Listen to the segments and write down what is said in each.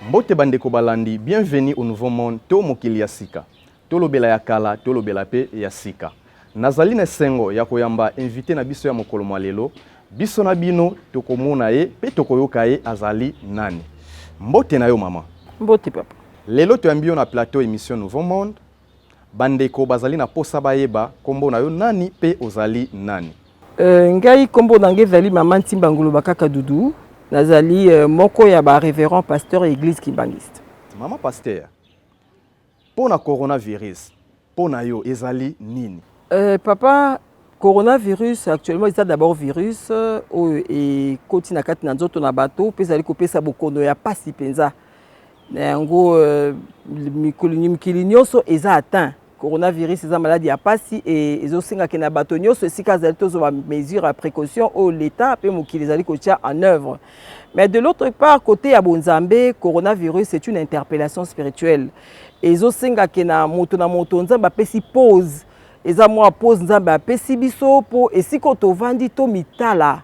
Mbote ba ndeko balandi, bienvenue au nouveau monde to mokili ya sika. Tolobela ya kala, tolobela pe ya sika. Nazali na esengo ya koyamba invite na biso ya mokolo mua lelo. Biso na bino tokomona ye pe tokoyoka ye azali nani. Mbote na yo maman. Mbote papa. Lelo toyambi yo na plateau emission nouveau monde. Bandeko bazali na mposa bayeba nkombo na yo nani mpe ozali nani? Euh, ngai kombo na ngai ezali mama Ntimba Ngoloba kaka Dudu, nazali euh, moko ya ba reverend pasteur ya église kimbanguiste. Mama pasteur, mpo na coronavirus, mpo na yo ezali nini? Euh, papa, coronavirus actuellement eza d'abord virus euh, oyo ekoti na kati na nzoto na bato mpe ezali kopesa bokono ya pasi mpenza. Na yango mikili nyonso eza atteint. Coronavirus eza maladi ya pasi e ezosenga ke na bato nyonso esika azali tozwa ba mesure ya precaution oyo leta pe mokili ezali kotia en oeuvre. Mais de l'autre part kote ya bonzambe coronavirus c'est une interpellation spirituelle ezosenga ke na moto na moto Nzambe apesi pause eza mua pause Nzambe apesi biso po esika oyo tovandi tomitala.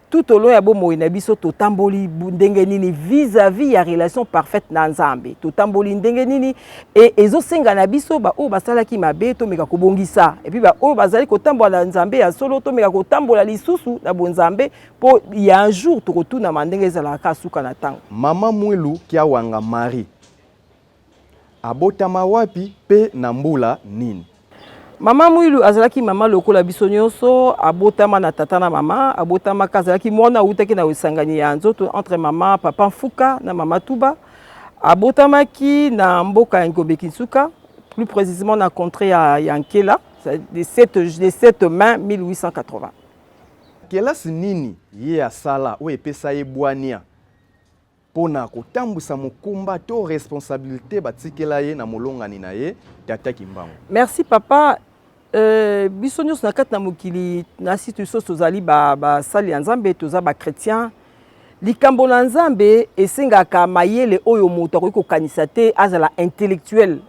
Tout au long ya bomoi na biso totamboli ndenge nini vis-à-vis -vis ya relation parfaite na Nzambe. Totamboli ndenge nini et ezosenga na biso ba oyo basalaki mabe tomeka kobongisa et puis ba oyo bazali kotambola na Nzambe ya solo tomeka kotambola lisusu na bonzambe po ya un jour tokotunama ndenge ezalaka suka na tango. Maman Mwilu Kiawanga Marie. Abotama wapi mpe na mbula nini? Mama Mwilu azalaki mama lokola biso nyonso, abotama na tata na mama. Abotamaka azalaki mwana awutaki na esangani ya nzoto entre mama Papa Nfuka na mama Tuba. Abotamaki na mboka ya Ngombe Kinsuka, plus precisement na contree ya, ya Nkela, le 7, le 7 mai 1880. Kelasi nini ye asala oyo epesa ye bwania? mpo na kotambwisa mokumba to responsabilite batikela ye na molongani na ye Tata Kimbangu. Merci papa. Euh, biso nyonso na kati na mokili na site biso tozali basali ba ya Nzambe, toza bakretien. Likambo na Nzambe esengaka mayele oyo moto akoki kokanisa te, azala intellectuel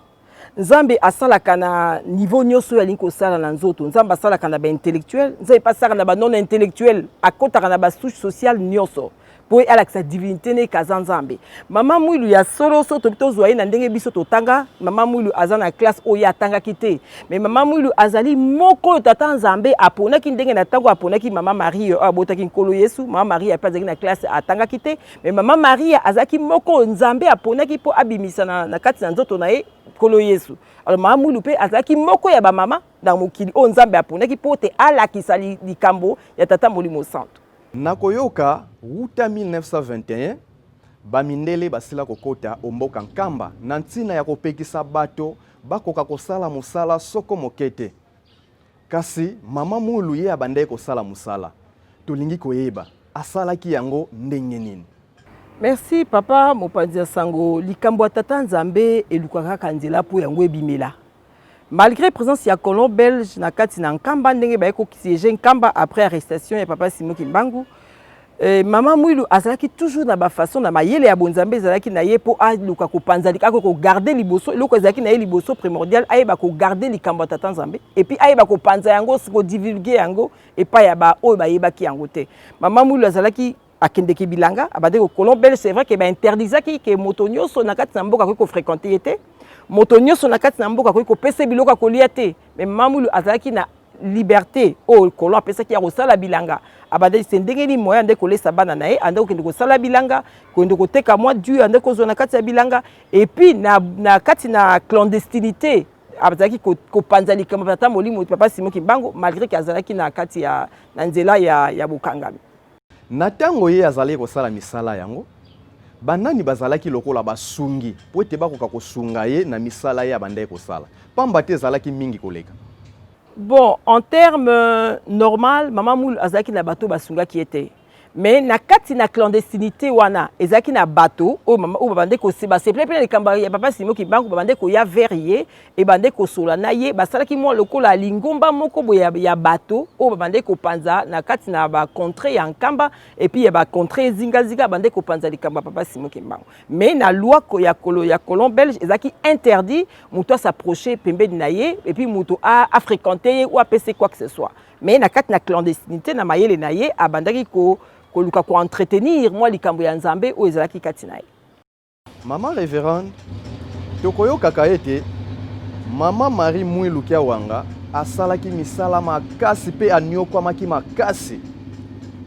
nzambe asalaka na niveau nyonso oyo alingi kosala na nzoto nzambe asalaka na baintellectuel nzambe mpe asalaka na banon intellectuel akotaka na basouche sociale nyonso mpo alakisa divinité ne kaza nzambe mama mwilu ya solo so tobi tozwa ye na ndenge biso totanga mama mwilu aza na classe oyo ye atangaki te me mama mwilu azali moko oyo tata nzambe aponaki ndenge na ntango aponaki mama marie oyo abotaki nkolo yesu mama marie mpe azalaki na classe atangaki te Mais mama Maria azalaki moko Nzambe aponaki mpo abimisa na, na kati na nzoto na ye Nkolo Yesu. Alors mama Mwilu mpe azalaki moko ya bamama na mokili oyo Nzambe aponaki mpo te alakisa likambo ya Tata Molimo Santu. Na koyoka wuta 1921 bamindele basila kokota omboka Nkamba na ntina ya kopekisa bato bakoka kosala mosala soko moke te. Kasi mama Mulu ye abandaki kosala mosala. Tolingi koyeba asalaki yango ndenge nini? Merci papa mopanzi ya sango likambo ya tata nzambe elukaka kaka nzela mpo yango ebimela malgré présence ya colon belge na kati na nkamba ndenge baye kosiege nkamba après arrestation ya papa simo kimbangu Euh, maman Mwilu azalaki toujours na ba façon na mayele ya bonzambe ezalaki na ye mpo aluka kopanza ako kogarde liboso eloko ezalaki na ye liboso primordial ayeba kogarde likambo ya tata nzambe epuis ayeba kopanza yango kodivulge yango epai ya baoyo bayebaki yango te maman Mwilu azalaki akendeki bilanga abandaki kokolon bele c'est vrai ke bainterdisaki ke moto nyonso na kati na mboka akoki kofrequente ye te moto nyonso na kati na mboka akoki kopesa biloko ya kolia te mais maman Mwilu azalaki na liberte oyo kolon apesaki ya kosala bilanga abandaki se ndenge nini moyen andaki kolesa bana na ye andaki kokende kosala bilanga kokende koteka mwa du andaki kozwa na kati ya bilanga epuis na, na kati na clandestinité azalaki kopanza likambo tata molimo papa simo kimbangu malgré ke azalaki na kati ya na nzela ya, ya bokangami Na ntango ye azalaki kosala misala yango, banani bazalaki lokola basungi mpo ete bakoka kosunga ye na misala ye abandaki kosala, mpamba te ezalaki mingi koleka? Bon, en terme euh, normal, mama Mulu azalaki na bato basungaki ye te me na kati na clandestinité wana ezalaki na bato oyo babandaki basepele mpe na likambo ya papa simo kibangu babandaki koya vers ye ebandaki kosolola na ye basalaki mwa lokola lingomba moko boye ya, ya bato oyo babandaki kopanza na kati na bacontre ya nkamba epuis ya bacontre ezingazinga babandaki kopanza likambo ya papa simo kimbangu mais na loi ya, kolo, ya colon belge ezalaki interdit moto asaproche pembeni na ye epuis moto afréquente ye ou apese quoi que ce soit mais na kati na clandestinité na mayele na ye abandaki ko, koluka koentretenir mwa likambo ya nzambe oyo ezalaki kati na ye Maman Reverende, tokoyokaka ete Maman Marie Mwilu Kiawanga asalaki misala makasi mpe aniokwamaki makasi.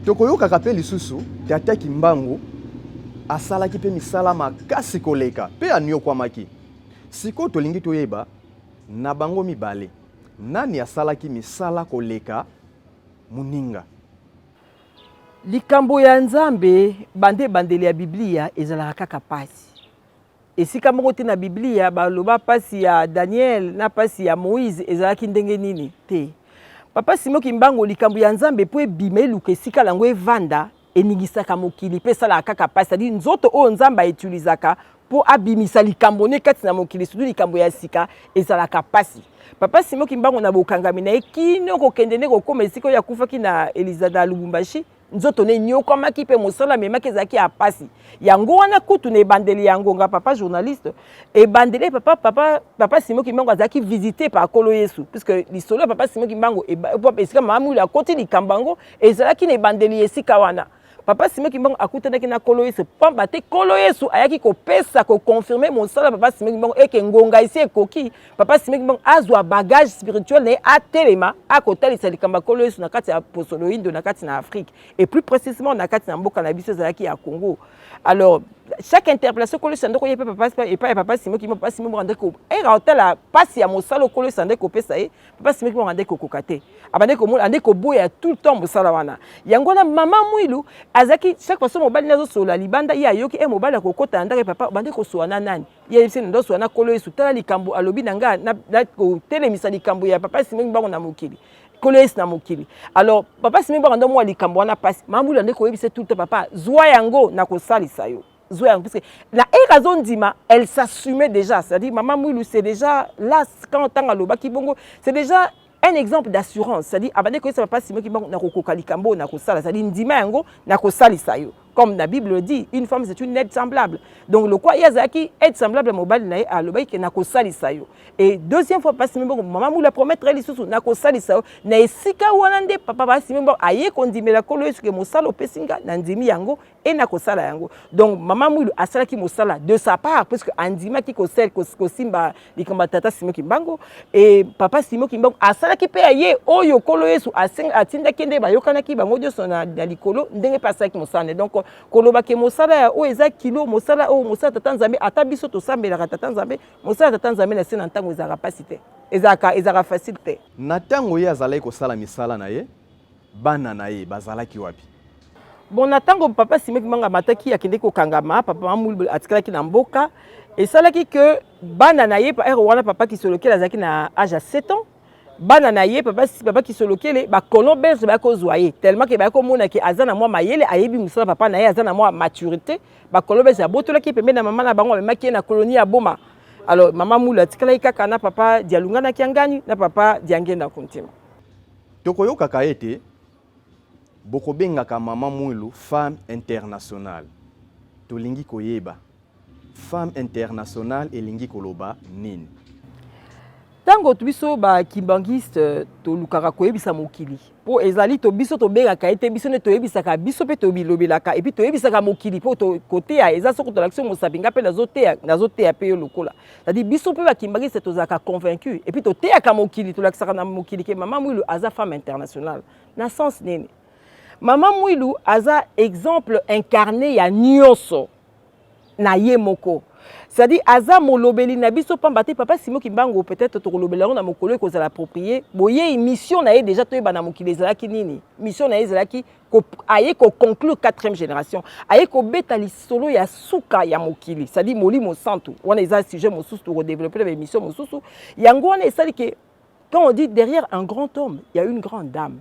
Tokoyokaka mpe lisusu Tata Kimbangu asalaki mpe misala makasi koleka mpe aniokwamaki. Sikoyo tolingi toyeba na bango mibale nani asalaki misala koleka moninga. Likambo ya Nzambe, banda ebandeli ya Biblia, ezalaka kaka mpasi. Esika moko te na Biblia baloba mpasi ya Daniel na mpasi ya Moïse ezalaki ndenge nini te. Papa Simo Kimbango, likambo ya Nzambe mpo ebima eluka esika yango evanda, eningisaka mokili mpe esalaka kaka mpasi, c'est-à-dire nzoto oyo Nzambe aetilizaka mpo abimisa likambo ne kati na mokili sutu likambo ya sika ezalaka mpasi papa simo kimbangu na bokangami na ye kino kokende nde kokoma esika oyo akufaki na elizada ya lubumbashi nzoto ne enyokwamaki mpe mosala amemaki ezalaki ya mpasi yango wana kutu na ebandeli ya ngonga papa journaliste ebandeli eh, papa, papa, papa simo kimbangu azalaki visite pa kolo yesu puisque lisolo ya papa simo kimbangu esika mamuli akoti likambo yango ezalaki na ebandeli ya esika wana Papa Simon Kimbangu akutanaki na Kolo Yesu pamba te Kolo Yesu ayaki kopesa ko confirmer mosala Papa Simon Kimbangu eke ngonga esi ekoki Papa Simon Kimbangu azwa bagage spirituel na ye atelema akotalisa likambo ya Kolo Yesu na kati ya poso loindo na kati na Afrique et plus précisément na kati na mboka na biso ezalaki ya Congo alors chaque interpellation Kolo Yesu andoko ye pe Papa epai ya Papa Simon Kimbangu Papa Simon Kimbangu andoko era otala pasi ya mosala Kolo Yesu andoko kopesa ye papa simeki bango andeki kokoka te abandeki komona andeki koboya tout le temps mosala wana yango wana mama mwilu azalaki chaque fois so mobali nde azosolola libanda ye ayoki e mobali akokota na ndako ye papa obandeki kosolola na nani ye ayebisi nde osolola na kolo yesu tala likambo alobi na ngai nakotelemisa likambo ya papa simeki bango na mokili kolo yesu na mokili alors papa simeki bango nde omwa likambo wana mpasi mama mwilu andeki koyebisa tout le temps papa zwa yango nakosalisa yo zwa yango puisque na ere azondima elle s'assumait déjà c'est-à-dire mama mwilu c'est déjà là quand ntango alobaki bongo c'est déjà un exemple d'assurance c'est-à-dire abandaki koyesa papa simon kimbangu nakokoka likambo oyo nakosala c'est-à-dire ndima yango nakosalisa yo comme la bible dit une femme c'est une aide semblable donc lokwa ye azalaki aide semblable ya mobali na ye alobaki ke nakosalisa yo et deuxième fois papa simon bongo mama mula promettre ye lisusu nakosalisa yo na esika wana nde papa papa simon bongo aye kondimela nkolo yesu ke mosala opesi nga nandimi yango et na kosala yango donc mama mwilu asalaki mosala de sa part puisque andimaki kosel kosimba likambo ya tata simo kimbango e papa simo kimbango asalaki mpe ya ye oyo nkolo yesu atindaki ye nde bayokanaki bango nyonso na, na likolo ndenge mpe asalaki mosala nde donc koloba ke mosala ya oyo eza kilo mosala oyo mosala tata nzambe ata biso tosambelaka tata nzambe mosala tata nzambe na se na ntango ezalaka mpasi te ezalaka ezalaka facile te na ntango ye azalaki kosala misala na ye Bana na ye bazalaki wapi? Bon, na ntango papa Sime Kimbangu amataki akendeki kokangama, papa Mamulu atikalaki na mboka. Esalaki ke bana na ye ere wana papa Kisolokele azalaki na age ya 7 ans bana na ye papa, papa Kisolokele bacolon belge bayaki kozwa ye tellement ke bayaki komona ke aza na mwa mayele ayebi mosala papa na ye aza na mwa maturité bacolon belge abotolaki ye pembeni na mama na bango amemaki ye na colonie ya Boma alors mama Mulu atikalaki kaka na papa Dialunga na Kiangani na papa Diangenda Kuntima. Tokoyokaka ete bokobengaka mama Mwilu femme internationale. Tolingi koyeba femme internationale elingi koloba nini? Tango biso ba kimbanguiste tolukaka koyebisa mokili po ezali to biso tobengaka ye te biso nde toyebisaka biso mpe tobilobelaka epuis toyebisaka mokili mpo koteya eza soko tolakisi mosapi nga mpe nazoteya mpe yo lokola Tadi biso mpe ba kimbanguiste tozalaka convaincu et puis toteyaka mokili tolakisaka na mokili ke mama Mwilu aza femme internationale na sens nini mama Mwilu aza exemple incarne ya nyonso na ye moko c'est-à-dire aza molobeli na biso pamba te papa Simon Kimbangu peut-être tokolobela yango na mokolo ekozala approprié boye mission na ye déjà toyeba na mokili ezalaki nini mission na ye ezalaki aye ko conclure quatrième génération aye kobeta lisolo ya suka ya mokili c'est-à-dire molimo santu wana eza sujet mosusu tokodeveloppe na baémission mosusu yango wana esali ke quand on dit derrière un grand homme il y a une grande dame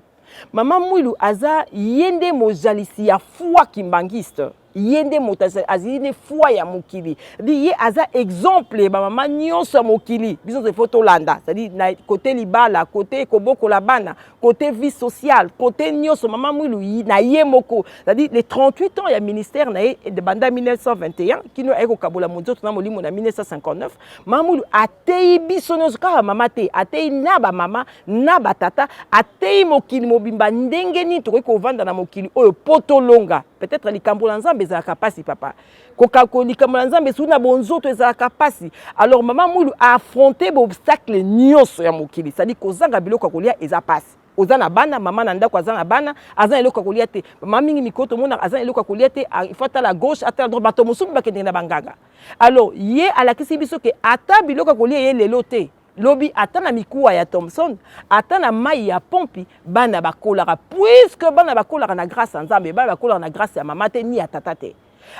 mama mwilu aza ye nde mozalisi ya foi kimbangiste ye nde moto azali nde foi ya mokili di ye aza exemple ya bamama nyonso ya mokili biso nyonso ifo tolanda cetadi na kote libala kote kobokola bana kote vie sociale kote nyonso mama mwilu na ye moko cetadi le 38 ans ya ministère na ye banda 1921 kino aye kokabola monzoto na molimo na 1959 mama mwilu ateyi biso nyonso kaka mama te ateyi na bamama na batata ateyi mokili mobimba ndenge nini tokoki kovanda na mokili oyo mpo tolonga peut-être likambo na nzambe ezalaka mpasi papa kokako likambo na nzambe esui na bonzoto ezalaka mpasi alors mama mwilu aaffronte baobstacle nyonso ya mokili sadi kozanga biloko ya kolia eza mpasi oza na bana mama na ndako aza na bana aza na eloko ya kolia te mama mingi mikolo tomonaka aza na eloko ya kolia te ah, il faut atala gauche atala droite bato mosusu bakendeke na banganga alors ye alakisi biso ke ata biloko ya kolia ye lelo te lobi ata na mikuwa ya thomson ata na mai ya pompi bana bakolaka puiske bana bakolaka na grâce ya nzambe bana bakolaka na grâce ya mama te ni ya tata te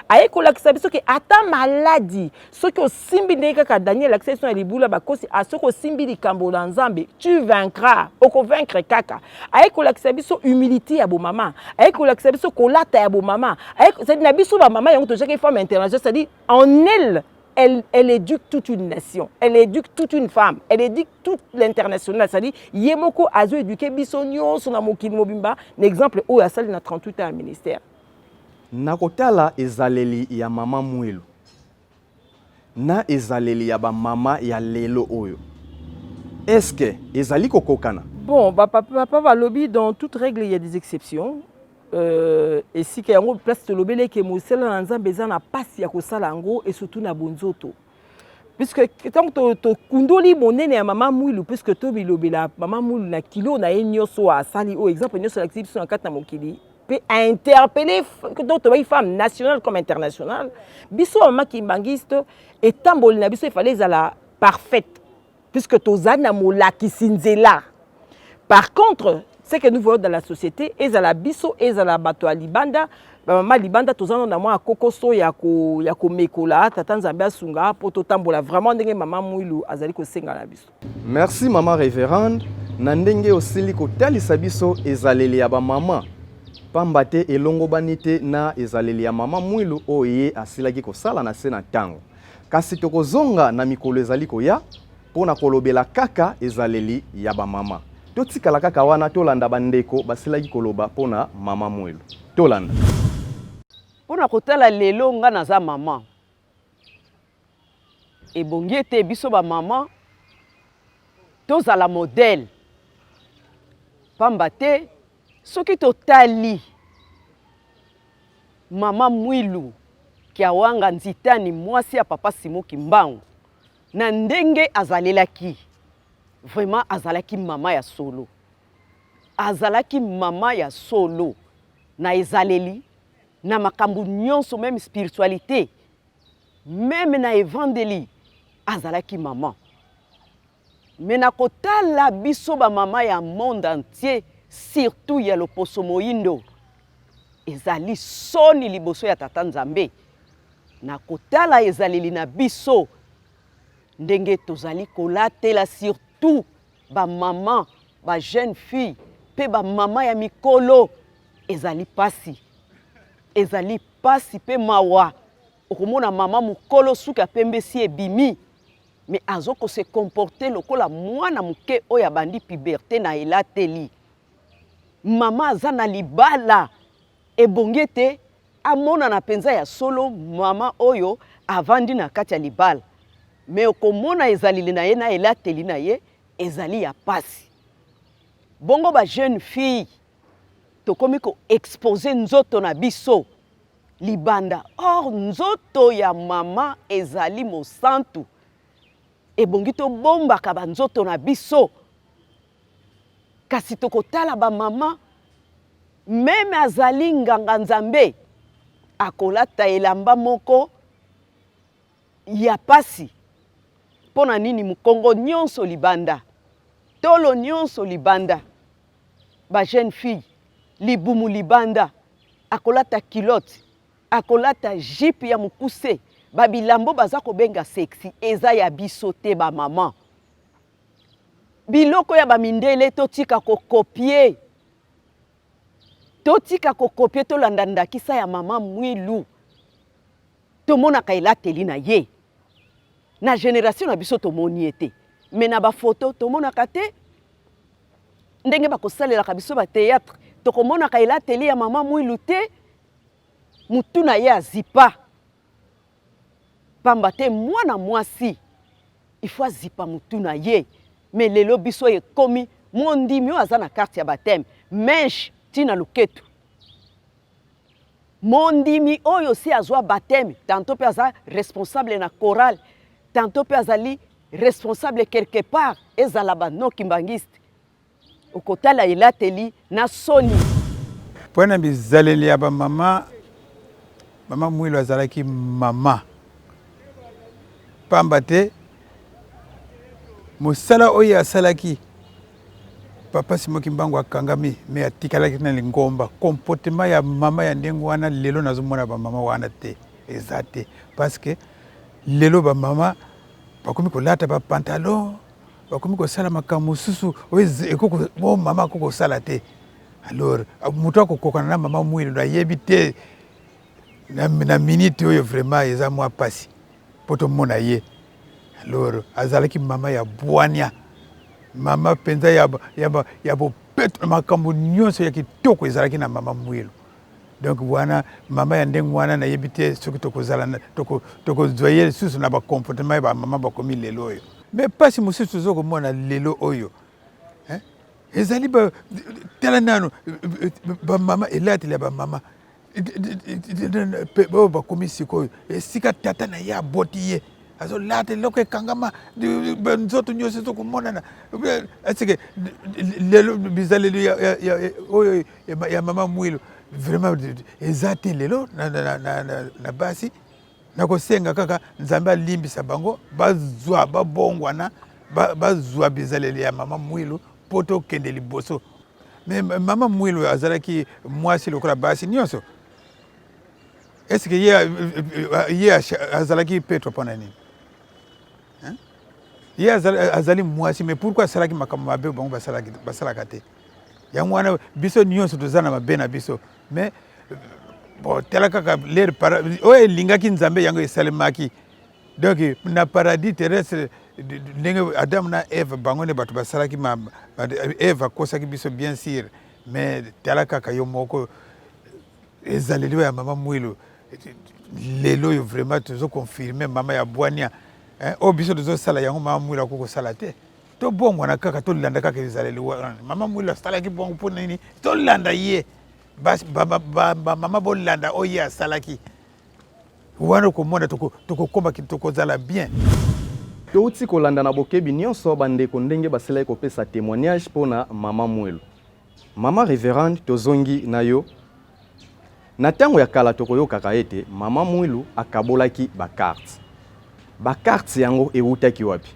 aye kolakisa biso ke ata maladi soki osimbi ndenge kaka daniel alakisa biso na libula bakosi a ah, soki osimbi likambo na nzambe tu vaincra okovaincre kaka aye kolakisa biso humilité ya bomama aye kolakisa biso kolata ya bomama cest na biso bamama yango tojaki femme international cestadi en elle Elle, elle éduque toute une nation, elle éduque toute une femme, elle éduque toute l'international. C'est-à-dire, Yemoko azo éduquer biso nyonso na mokili mobimba, na exemple oyo asali na 38 ans ya ministère. Nakotala ezaleli ya mama Mwelu. na ezaleli ya ba mama ya lelo oyo est ce que ezali kokokana? Bon ba papa balobi dans toute règle il y a des exceptions euh, esika yango place tolobeli eke mosala na nzambe eza na mpasi ya kosala yango e surtout na bonzoto puisque ntango tokundoli monene ya mama mwilu puisque tomilobela mama mwilu na kilo na ye nyonso oyo asali oyo exemple nyonso alakisi biso na kati na mokili mpe a interpelle donc tobaki femme nationale comme internationale biso bamama kimbangiste etamboli na biso efale ezala parfaite puisque tozali na molakisi nzela par contre ce que nous voyons dans la société ezala biso ezala bato ya libanda bamama libanda toza no na mwa kokoso ya komekola tata nzambe asunga mpo totambola vraiment ndenge mama mwilu azali kosenga na biso Merci maman reverende na ndenge osili kotalisa biso ezaleli ya bamama mpamba te elongobani te na ezaleli ya mama mwilu oyo ye asilaki kosala na se na ntango kasi tokozonga na mikolo ezali koya mpo na kolobela kaka ezaleli ya bamama totikala kaka wana tolanda bandeko basilaki koloba mpo na mama mwilu tolanda mpo na kotala lelo ngai naza mama Ebongi ete biso ba mama tozala modèle pamba te soki totali mama Mwilu Kiawanga Nzitani mwasi ya papa Simon Kimbangu na ndenge azalelaki vraiment azalaki mama ya solo azalaki mama ya solo na ezaleli na makambo nyonso meme spiritualité Meme na evandeli azalaki maman. Mais na kotala biso ba mama ya monde entier surtout ya loposo moindo ezali soni liboso ya tata Nzambe na kotala ezaleli na biso ndenge tozali kolatela surtout ba mama ba jeune fille mpe ba mama ya mikolo ezali pasi ezali pasi mpe mawa okomona mama mokolo suki ya pembe si ebimi me azo ko se comporte lokola mwana moke oyo abandi puberte na elateli mama aza na libala ebongi ete amonana mpenza ya solo mama oyo avandi na kati ya libala me okomona ezaleli na ye na elateli na ye ezali ya pasi bongo ba jeune fille tokomi koexpose nzoto na biso libanda or nzoto ya mama ezali mosantu ebongi tobombaka banzoto na biso kasi tokotala bamama meme azali nganga nzambe akolata elamba moko ya pasi mpo na nini mokongo nyonso libanda tolo nyonso libanda ba jeune fille libumu libanda akolata kilote akolata jipe ya mokuse babilambo baza kobenga sexi eza ya biso te bamama biloko ya bamindele totika kokopie totika kokopie tolanda ndakisa ya mama mwilu tomonaka elateli na ye na generation na biso tomoni ye te me na bafoto tomonaka te ndenge bakosalelaka biso bateatre tokomonaka elateli ya mama mwilu te motu na ye azipa mpamba te mwana mwasi ifo azipa motu na ye me lelo biso ekomi mondimi oyo aza na karte ya bateme meshe ntina loketu Mondimi oyo si azwa bateme tanto mpe aza responsable na chorale tanto mpe azali responsable quelque part ezala ba non kimbanguiste okotala elateli na soni mpo na bizaleli ya bamama mama mwilo azalaki mama mpamba te mosala oyo asalaki Papa Simon Kimbangu akangami mais atikalaki na lingomba. Comportement ya mama ya ndenge wana lelo nazomona ba mama wana te, eza te parce que lelo ba mama bakomi kolata ba pantalon, bakomi kosala makambo mosusu oyo oh, mama akoki kosala te. Alors moto akokokana na mama mwindu nayebi te na, na minute oyo vraiment eza mwa pasi mpo tomona ye loro azalaki mama ya bwania mama mpenza ya, ya, ya bopeto na makambo nyonso ya kitoko ezalaki na mama mwilu donc wana mama ya ndenge wana nayebi te soki tokozala tokozwa toko ye lisusu na bacomportement ya bamama bakomi lelo oyo me mpasi mosusu toza komona lelo oyo eh? ezali tala nano bamama elateli ya bamama oyo bakomi sikoyo esika tata na ye aboti ye azolata eloko ekangama nzoto nyonso ezokomonana eseke lelo bizaleli oyo ya mama mwilo vraiment eza te lelo na basi nakosenga kaka nzambe alimbisa bango bazwa babongwana bazwa bizaleli ya mama mwilu mpo tokende liboso Mais mama Mwilu azalaki mwasi lokola basi nionso. Est-ce que ye ye azalaki petro pona nini? Hein? Ye azali mwasi mais pourquoi asalaki makambo mabe bango basalaki basalaka te? Yango wana biso nionso toza na mabe na biso mais bon tala kaka ler oyo elingaki Nzambe yango esalemaki. donc na paradis terrestre ndenge adamu na eve bango nde bato basalaki eve akosaki biso bien sur mais tala kaka yo moko ezaleli oyo ya mama mwilu lelo oyo vraiment tozo confirme mama ya bwania eh, oyo biso tozosala yango mama mwilu akoki kosala te tobongwana kaka tolanda kaka ezaleli wana mama mwilu asalaki bongo mpo nini tolanda ye bamama bolanda oyo ye asalaki wana okomona tokokoma tokozala bien. Touti kolanda na bokebi nyonso bandeko ndenge basilaki kopesa temoignage mpo na Mama Mwelu. Mama Reverende, tozongi na yo. Na ntango ya kala tokoyokaka ete Mama Mwilu akabolaki ba cartes. Ba cartes yango ewutaki wapi?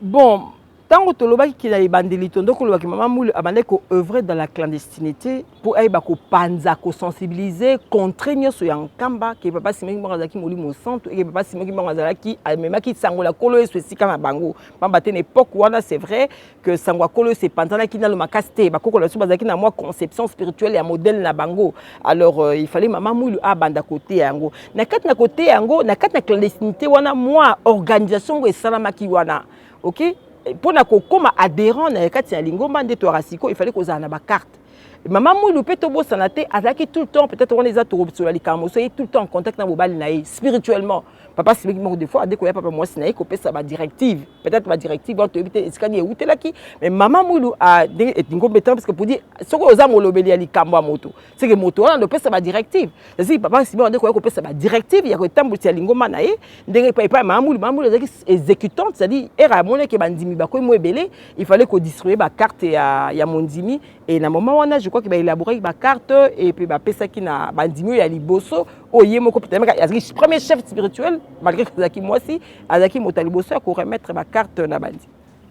Bon, tango tolobaki ke na ebandeli tondo koloba ke mama Mulu abandaki ko oeuvrer dans la clandestinite po ayeba kopanza, ko sensibiliser, contrer nionso ya Nkamba ke Papa Simon Kimbangu azalaki Molimo Mosantu et ke Papa Simon Kimbangu azalaki, amemaki sango na Nkolo Yesu esika na bango. Pamba te na epoque wana c'est vrai, que sango ya kolo se panzanaki nano makasi te bakoko na biso bazalaki na mwa conception spirituelle ya modèle na bango alors euh, il fallait mama mwilu abanda koteya yango na kati na koteya yango na kati na clandestinité wana mwa organisation ngo esalamaki wana ok mpo na kokoma adhérent na kati ya lingomba nde toyaka sikoyo il fallait kozala na bacarte mama mwilu mpe tobosana te azalaki tout le temps peut-être wana eza tokosola likambo soki tout le temps en contact na mobali na ye spirituellement papa simiki moko de fois ade koya papa mwasi na ye kopesa badirective peut-être badirective wana toyebi te esika nini eutelaki mais mama mwilu ah, ndenge eh, ngombe tana parce que podi soki oza molobeli ya likambo ya moto seke moto wana nde opesa badirective eziki papa simiki ade koya kopesa badirective ya kotambwisa lingomba na ye ndenge epai epai mama mwilu mama mwilu ezalaki exécutant c'est-à-dire ere amonaki bandimi bakomi mo ebele il fallait kodistribue bacarte ya, ya mondimi e na moment wana je crois ke baelaboraki bacarte epe bapesaki na bandimi oyo ya liboso oyo ye moko petameka azalaki premier chef spirituel malgré azalaki mwasi azalaki moto ya liboso ya koremettre bacarte na bandi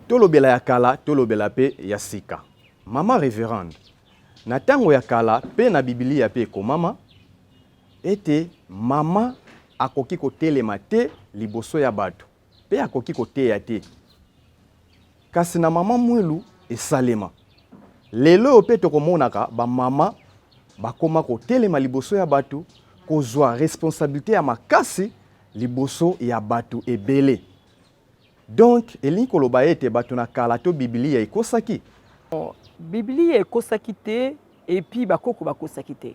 tolobela ya kala tolobela mpe ya sika mama reverande na ntango ya kala mpe na bibilia mpe ekomama ete mama akoki kotelema te liboso ya bato Pe akoki koteya te. Kasi na mama mwilu esalema. Lelo oyo pe tokomonaka ba mama bakoma kotelema liboso ya bato, kozwa responsabilite ya makasi liboso ya bato ebele. Donc elingi koloba ete bato na kala to Biblia ekosaki? Biblia ekosaki te, epi bakoko bakosaki te.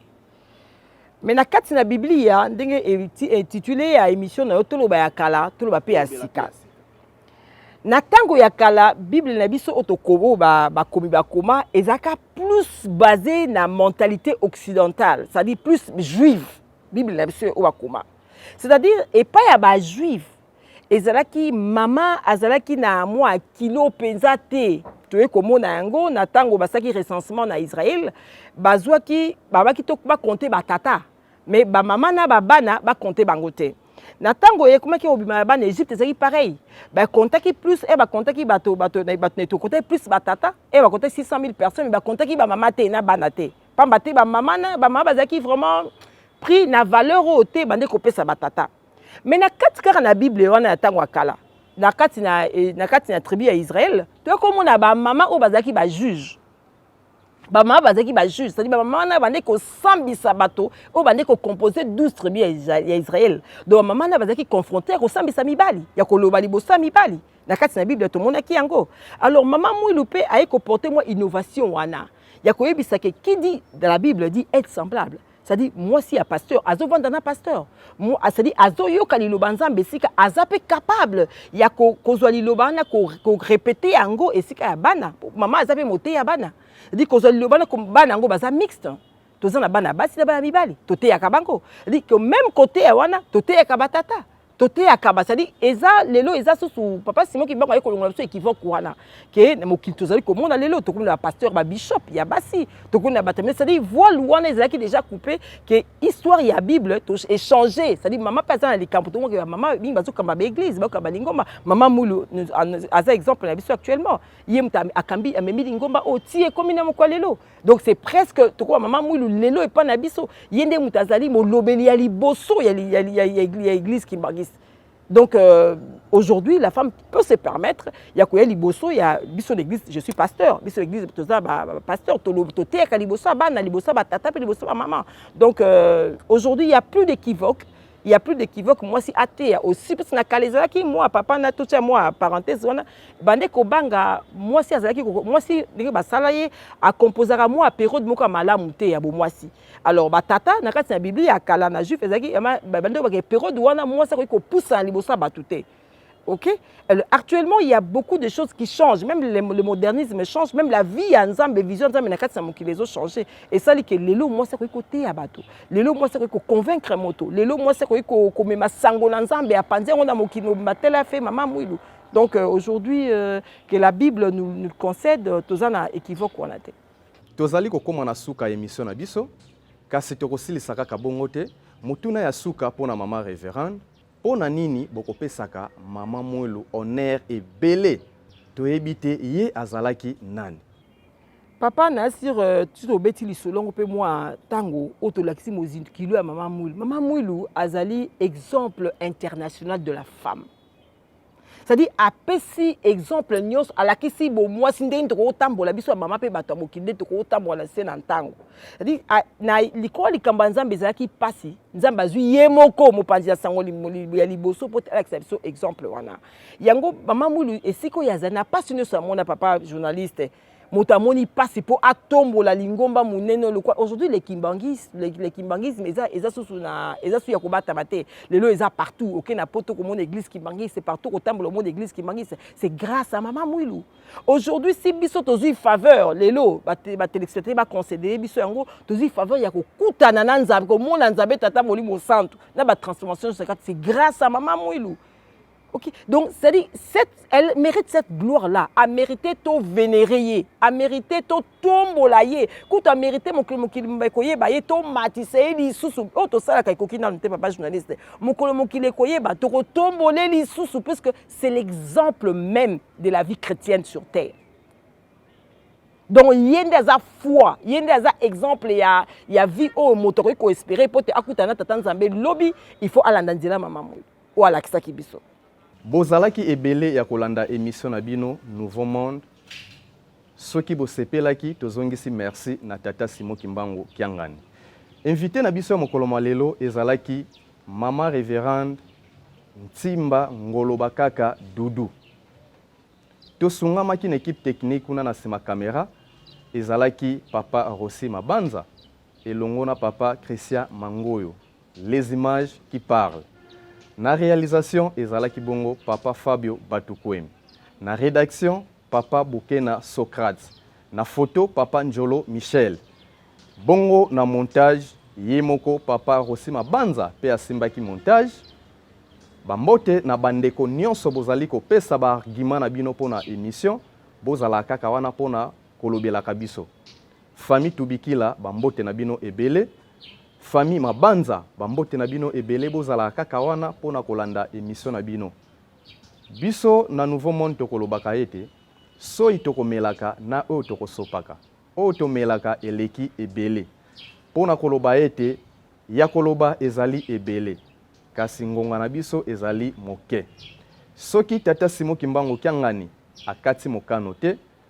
Mais na kati na Biblia ndenge intitulé ya émission na yo toloba ya kala toloba pe ya sika. Na tango ya kala Bible na biso otokobo ba bakomi bakoma ezaka plus basé na mentalité occidentale, c'est-à-dire plus juive. Bible na biso oyo bakoma. C'est-à-dire epai ya ba juive ezalaki mama azalaki na mwa kilo mpenza te toye komona yango na ntango basalaki recensement na israel bazwaki babaki to bakonte batata me bamama na babana bakonte bango te na ntango ekomaki kobima ya bana egypte ezalaki pareil bakontaki plus e bakontaki bato bato na etokontaki plus batata e bakontaki 600 000 personnes me bakontaki bamama te na bana te mpamba te bamama na bamama bazalaki vraiment prix na valeur oyo te bande kopesa batata Mais na kati kaka na Bible wana ya tango ya kala, na kati na eh, na kati na tribu ya Israël, to ko mona ba mama o bazaki ba juge. Ba mama bazaki ba juge, c'est-à-dire ba mama na bande ko sambisa bato o bande ko composer 12 tribu ya Israël. Donc ba mama na bazaki confronter ko sambisa mibali, ya ko loba liboso mibali. Na kati na Bible to mona ki yango. Alors mama Mwilu pe aye ko porter moi innovation wana. Ya ko yebisa ke qui dit dans la Bible dit être semblable. cestadi mwasi ya pasteur azovanda na pasteur cestadi azoyoka liloba nzambe esika aza mpe capable ya kozwa liloba wana korepete yango esika ya bana mama aza mpe moteya bana cestadi kozwa liloba wana bana yango baza mixte toza na bana basi na bana mibali toteyaka bango cestadi meme koteya wana toteyaka batata toteyaka ba cetadi eza lelo eza susu papa simon kibango aye kolongola biso ekivoque wana ke na mokili tozali komona lelo tokomi na bapasteur babishop ya basi tokomi na bato cetadi voile wana ezalaki déjà coupe ke histoire ya bible echange cetadi mama mpe aza na likambo tomonaka ya mama mingi bazokamba baeglise bakamba lingomba mama mulu aza exemple na biso actuellement ye moto akambi amemi lingomba oyo ti ekomi na mokwa lelo donc c'est presque tokoba mama mwilu lelo epa na biso ye nde moto azali molobeli ya liboso ya, ya, ya, ya, ya église kimbanguiste donc euh, aujourd'hui la femme peut se permettre ya koya liboso ya biso l'église je suis pasteur biso l'église toza bapasteur toteyaka liboso ya bana liboso ya batata mpe liboso ya bamama donc euh, aujourd'hui il y a plus d'équivoque il y a plus d'équivoque mwasi ateya aussi parce na kala ezalaki mwa papa na totia mwa parenthèse wana bande kobanga mwasi azalaki mwasi ndenge basala ye akomposaka mwa periode moko ya malamu te ya bomwasi alors batata na kati na biblia ya kala na juif ezalaki bande kobaka periode wana mwasi akoki kopusana liboso ya bato te Ok Alors, Actuellement, il y a beaucoup de choses qui changent. Même le, le modernisme change. Même la vie ya Nzambe, vision ya Nzambe na kati na mokili ezo changer. Esali ke lelo mwasi akoki koteya bato. Lelo mwasi akoki koconvaincre moto. Lelo mwasi akoki ko- komema sango na Nzambe apanzi yango na mokili mobimba tele afe mama mwilu. Donc euh, aujourd'hui euh, que la Bible nous, nous le concède, euh, toza na équivoque wana te. tozali kokoma na suka ya emission na biso kasi tokosilisa kaka bongo te motuna ya suka mpo na mama reverend Mpo na nini bokopesaka mama Mwelu honneur ebele? Toyebi te ye azalaki nani. Papa na sur euh, tu obeti lisolo yango mpe mwa ntango oyo tolakisi mozikilo ya mama Mwilu. Mama Mwilu azali exemple international de la femme. cetadi apesi exemple nyonso alakisi bomwasi ndenge tokokotambola biso ya mama mpe bato ya mokili nde tokokotambola na nse na ntango cetadi na likolo likambo ya nzambe ezalaki mpasi nzambe azwi ye moko mopanzi ya sango ya liboso mpo te alakisa biso exemple wana yango mama mwilu esika oyo azali na mpasi nyonso amona papa journaliste moto amoni mpasi mpo atombola lingomba monene oyo lokwa aujourd'hui le kimbanguisme, le, le kimbanguisme eza, eza susu na eza susu ya kobatama te lelo eza partout oke na poto komona église kimbanguiste partout kotambola omona église kimbanguiste c'est grâce à mama mwilu aujourd'hui si biso tozwi faveur lelo batelespectateur baconsidere biso yango tozwi faveur ya kokutana na nzambe komona nzambe tata molimo santu na batransformation sakati c'est grâce à mama mwilu Ok, donc c'est-à-dire, cette, elle mérite cette gloire-là. A mérité to vénérer, a mérité to tombola ye. Quand a mérité mon mokili mokili koye ba ye to matise ye lisusu. Oh to sala kai koki na nte papa journaliste. Mokolo mokili koye ba to ko tombole lisusu parce que c'est l'exemple même de la vie chrétienne sur terre. donc ye nde aza foi ye nde aza exemple ya, ya vie oyo moto akoki koespere mpo te akutana na tata nzambe lobi il faut alanda nzela mama moyo oyo alakisaki biso. Bozalaki ebele ya kolanda emission na bino nouveau monde soki bosepelaki tozongisi merci na tata Simon Kimbangu Kiangani. Invite na biso ya mokolo mwa lelo ezalaki mama reverende Ntimba Ngoloba Kaka Dudu. Tosungamaki na ekipe technique kuna na sima kamera ezalaki papa Rossi Mabanza elongo na papa Christian Mangoyo. Les images qui parlent. Na realisation ezalaki bongo papa Fabio Batukuemi. Na redaction papa Bukena Socrate. Na photo papa Njolo Michel. Bongo na montage ye moko papa Rossi Mabanza pe asimbaki montage. Ba mbote na ba ndeko nionso bozali kopesa ba arguments na bino pona emission. Bozala kaka wana pona kolobelaka biso. Famille Tubikila ba mbote na bino ebele. Famille Mabanza ba mbote na bino ebele bozalaka kaka wana mpo na kolanda emission na bino. Biso na Nouveau Monde tokolobaka ete soyi tokomelaka na oyo tokosopaka oyo tomelaka eleki ebele mpo na koloba ete ya koloba ezali ebele kasi ngonga na biso ezali moke. Soki tata Simo Kimbangu Kiangani akati mokano te,